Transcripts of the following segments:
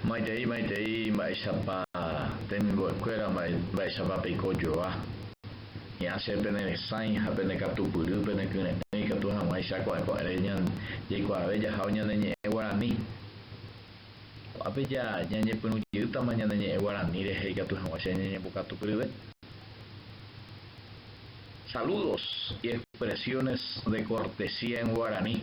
Maitei, maitei, mba'éichapa temimbo'ekuéra, mba'éichapa peiko joa. Hi'ã che pene resãi ha pene katupyry, pene kyre'ỹ ikatu hag̃uáicha ko'ẽko'ẽre jaikuaave jahávo ñane ñe'ẽ guarani. Ko'ápe ñañepyrũ jeýtama ñane ñe'ẽ guarani rehe ikatu hag̃ua che ñañembokatupyryve. Saludos y expresiones de cortesía en guaraní.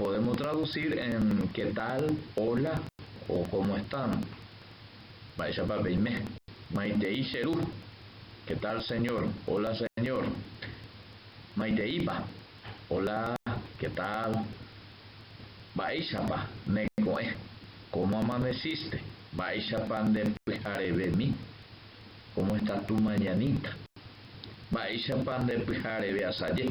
Podemos traducir en qué tal, hola o cómo están. Mba'éichapa peime. Maitei che ru. Qué tal señor, hola señor. Maiteípa, hola, qué tal. Mba'éichapa neko'ẽ, cómo amaneciste. Mba'éichapa nde pyharevemi, cómo está tu mañanita. Mba'éichapa nde pyhareve asaje.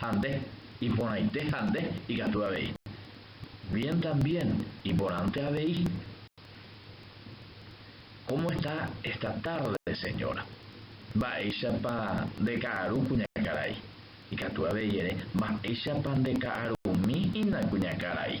ha nde, iporãite ha nde, ikatu avei, bien también, iporãnte avei. Cómo está esta tarde, señora? Mba'éichapa nde ka'aru, kuñakarai? Ikatu avei ere, Mba'éichapa nde ka'arumi, ina kuñakarai?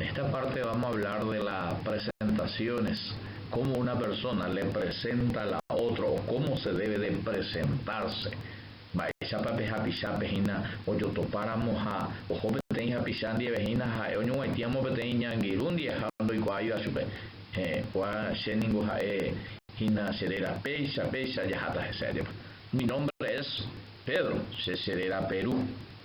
Esta parte vamos a hablar de la presentaciones, cómo una persona le presenta a la otro o cómo se debe de presentarse. Mba'éichapa pe hapichápe hína ojotopáramo ha oho peteĩ hapicha ndive hína ha'e oñoguaitĩamo peteĩ ñangirũ ndive ha ndoikuaáiva chupe, heẽ, kua che ningo ha'e hína che réra, péicha, péicha, jaháta hese ajépa. Mi nombre es Pedro, che che réra Peru.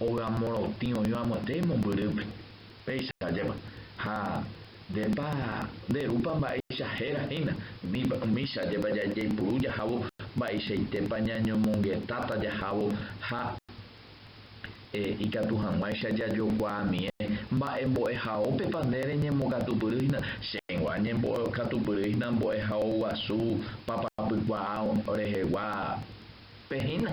óga morotĩ oĩva mante mombyrýpe, péicha jeva. Ha ndépa, nderúpa mba'éicha héra hína, mícha jeva jaipuru jahávo mba'eichaitépa ñañomongetáta jahávo ha ikatu hag̃uáicha jajokuaamie mba'e mbo'ehaópepa nde reñembokatupyry hína, chéngo añembokatupyry hína mbo'ehao guasu papapykuaa rehegua pe hína.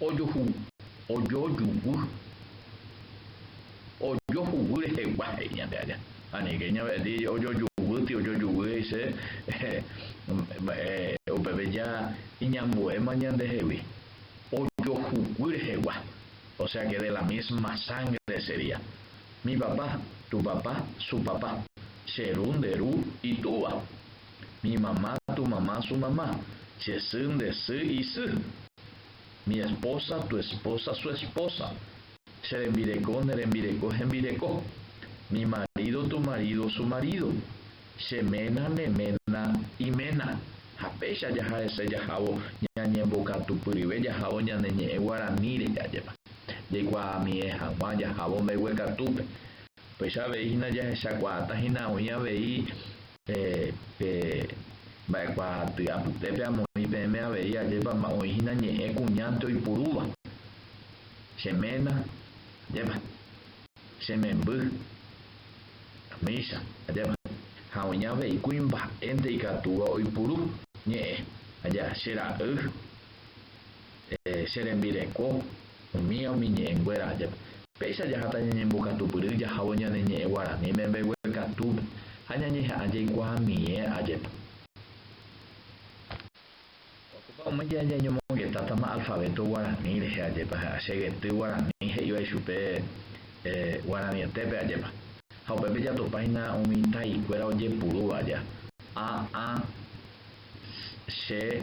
Ojuhu, ojo juguy. Ojo juguy rehegua, he'i ñande aja. Ha nike ña ve'ẽti ojo juvýti, ojo juguy he'i che, upépe ja iñambuéma ñande hegui. Ojo juguy rehegua, o sea que de la misma sangre sería. Mi papá, tu papá, su papá. Che ru, nde ru, itúva. Mi mamá, tu mamá, su mamá. Che sy, nde sy, isy. Mi esposa, tu esposa, su esposa. Che rembireko, ne rembireko, hembireko. Mi marido, tu marido, su marido. Che ména, ne ména, iména. Ha péicha jaha hese jahávo ñañembokatupyryve jahávo ñane ñe'ẽ guaraníre jajépa. Jaikuaamie hag̃ua jahávo mbeguekatúpe. Upéicha avei hína jahechakuaáta hína oĩ avei. Pe mba'ekuaaty apytépe amoĩ peẽme avei ajépa oĩhína ñe'ẽ kuñánte oipurúva, Che ména, ajépa, Che memby, Amicha, ajépa, ha oĩ avei kuimba'énte ikatúva oipuru ñe'ẽ, aja, Che ra'y. che rembireko, umíva umi ñe'ẽ nguéra ajépe. Péicha jaháta ñañembokatupyry jahávo ñane ñe'ẽ guarani membegue katúpe ha ñañeha'ã jaikuaamie ajépe. Opa umi ñe'ẽ jañomongetátama alfabeto guarani rehe ajépe ha che gety guarani he'iva ichupe guaranietépe ajépe. Ha upépe jatopáina umi taikuéra ojepurúva aja, a, a, s, che,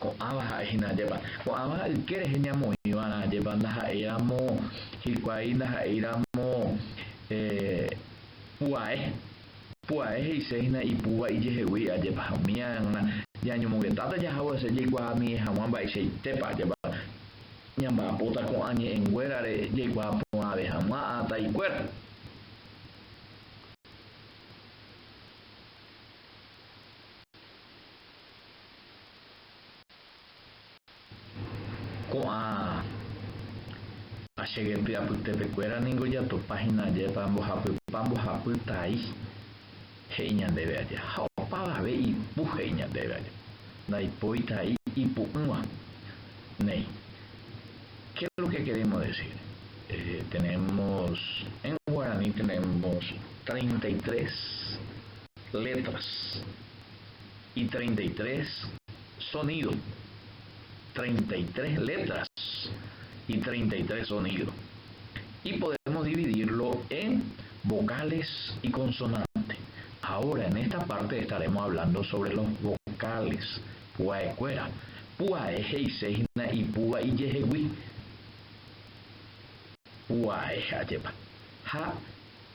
Ko'ãva ha'e hína ajépa. Ko'ãva yke rehe ñamoĩva'erã ajépa ndaha'éiramo hikuái ndaha'éiramo pu'ae. Pu'ae he'ise hína ipúva ijehegui ajépa ha umi ae g̃uarã ñañomongetáta jahaguase jaikuaa ami'ẽ hag̃ua mba'eichaitépa ajépa ñamba'apóta ko'ã ñe'ẽ nguérare jaikuaa porãve hag̃ua ha taikuéra. Ko'ã che gentýa apytépekuéra ningo jatopa hína ajépa mbohapypa mbohapy tai, he'i ñandéve aja, ha opavave ipu, he'i ñandéve aja, ndaipói tai ipu'ỹva. Néi, Qué es lo que queremos decir? Tenemos, en guaraní tenemos treinta y tres letras y treinta y tres sonido treinta y tres letras y treinta y tres sonido y podemos dividirlo en vocales y consonante ahora en esta parte estaremos hablando sobre los vocales pu'aekuéra pu'ae he'ise hína ipúva ijehegui pu'ae ajépa ha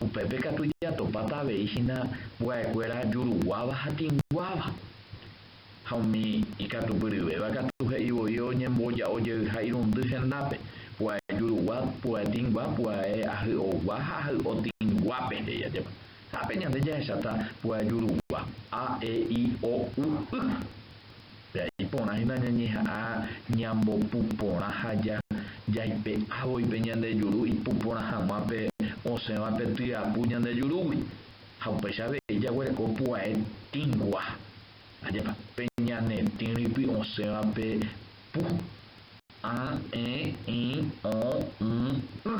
Upépe katu jatopáta avei hína mbuaekuéra juruguáva ha tĩguáva. Ha umi ikatupyryvéva katu he'i voi oñemboja'o jeyha irundy hendápe, pu'ae jurugua, pu'ae tĩgua, pu'ae ahy'ogua ha ahy'o tĩguápe, he'i ajépa. Ha ápe ñande jahecháta pu'ae jurugua, a, e, i, o, u, y. Pe'a iporã hína ñañeha'ã ñambopu porã ha jaipe'a voi pe ñande juru ipu porã hag̃ua pe osẽva pe tyapu ñande jurúgui. Ha upéicha avei jaguereko pu'ae tĩgua, ajépa, pe ñane tĩ rýpi osẽva pe pu, a, e, i, o, y, y.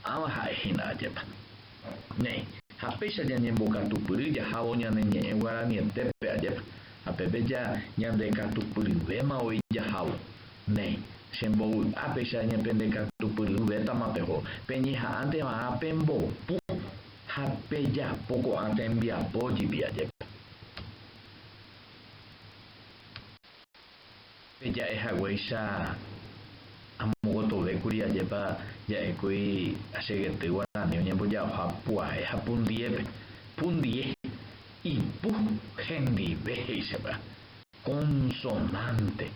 Pu'ãva ha'e hína, ajépa. Néi, ha péicha ñañembokatupyry jahávo ñane ñe'ẽ guaranietépe ajépa, ha peve ja ñandekatupyryvéma voi jahávo. Néi, che mbovy'a péicha ñependekatupyryvétama peho, peñeha'ãnte va'ã pembopu ha pejapo ko'ã tembiapo jipy ajépa. peja'e haguéicha amogotovékuri ajépa ja'ékuri che gety guarani oñembojaoha pu'ae ha pundiépe, pundie, ipu, hendive he'isépa, consonante,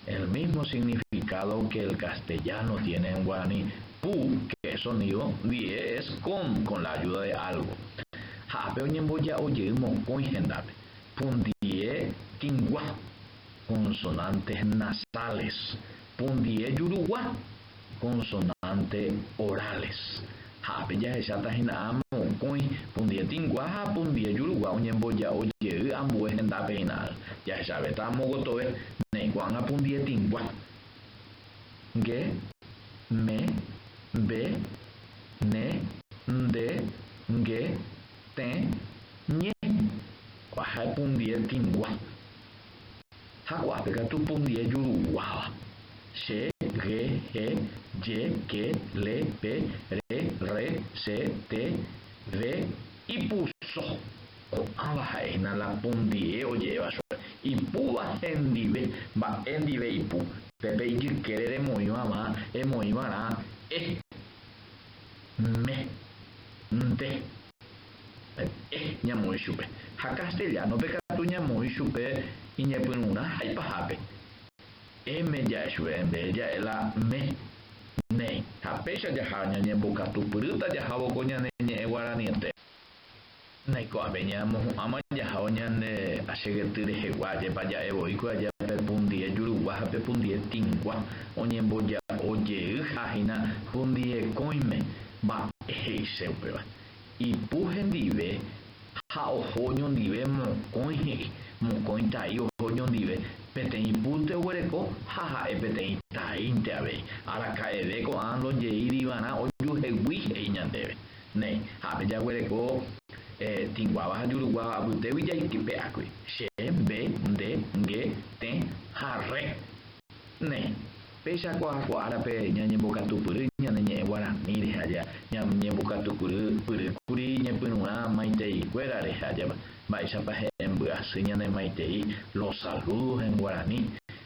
el mismo significado que el castellano tiene en guaraní, pu, que es sonido, die, es con, con la ayuda de algo. Ha ápe oñemboja'o jey mokõi hendápe, pundie tĩgua, consonantes nasales, pundie jurugua, consonantes orales. Ha ápe jahecháta hína áma mokõi pundie tĩgua ha pundie jurugua oñemboja'o jey ambue hendápe hína. Jahechavéta amo gotove ne ko'ág̃a pundie tĩgua, nge, me, mbe, ne, nde, nge, Tee, Ñe, kuaha epundie tĩgua. Ha kuape katu pundie juruguáva. Che, ge, he, je, ke, le, pe, re, rre, se, te, ve, ipu, so. Ko'ãva ha'e hína la pundie oje'éva chupe. Ipúva hendive, mba'e ndive ipu. Pépe ijykére remoĩvãva, emoĩvarã, e. Mme. Nte. Ete ñamoĩ chupe. Ha castellano-pe katu ñamoĩ chupe iñepyrũrã haipahápe. Eme ja'e chupe en vez ja'e la mme. Néi. Ha péicha jaha ñañembokatupyrýta jahávo ko ñane ñe'ẽ guaraniete. Naiko'ãve ñamohu'ãma jahao ñande achegety rehegua, ajépa ja'e voíkue aja pe pundie jurugua ha pe pundie tĩgua oñemboja'o jey ha hína pundie kóime. Mba'e he'ise upéva? Ipu hendive ha oho oñondive mokõi he'i, mokõi tai oho oñondive, peteĩ púnte oguereko ha ha'e peteĩ taínte avei. Araka'eve ko'ã ndojeírivarã ojuhegui he'i ñandéve. Néi, ha pe jaguereko eh, tĩguáva ha juruguáva apytégui jaitype'ákuri, che, mbe, nde, nge, tẽ ha rre. Néi, péicha ko apo árape ñañembokatupyry ñane ñe'ẽ guarani rehe aja, ñañembokatupyrýkuri ñepyrũrã maiteíkuérare ha ajépa, mba'éichapa he'ẽ mbyasy ñanemaitei los saludos en guarani,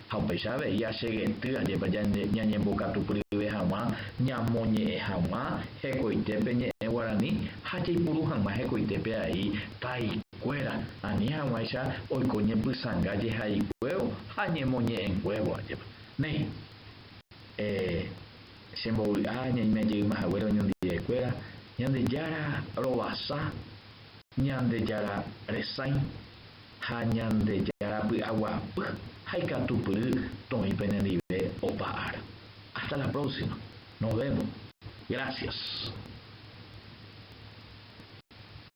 Ha upéicha avei asegety ajépa ñañembokatupyryve hag̃ua ñamoñe'ẽ hag̃ua hekoite pe ñe'ẽ guarani ha jaipuru hag̃ua hekoite pe ai taikuéra, ani hag̃uáicha oiko ñepysãnga jehaikuévo ha ñemoñe'ẽnguévo ajépa. Néi, e che mbovy'a ñaimejeyma haguére oñondive'ekuéra, Ñandejára rovasa, Ñandejára resãi. Ha Ñandejára py'aguapy ha ikatupyry toĩ penendive opa ára. Hasta la próxima. Nos vemos. Gracias.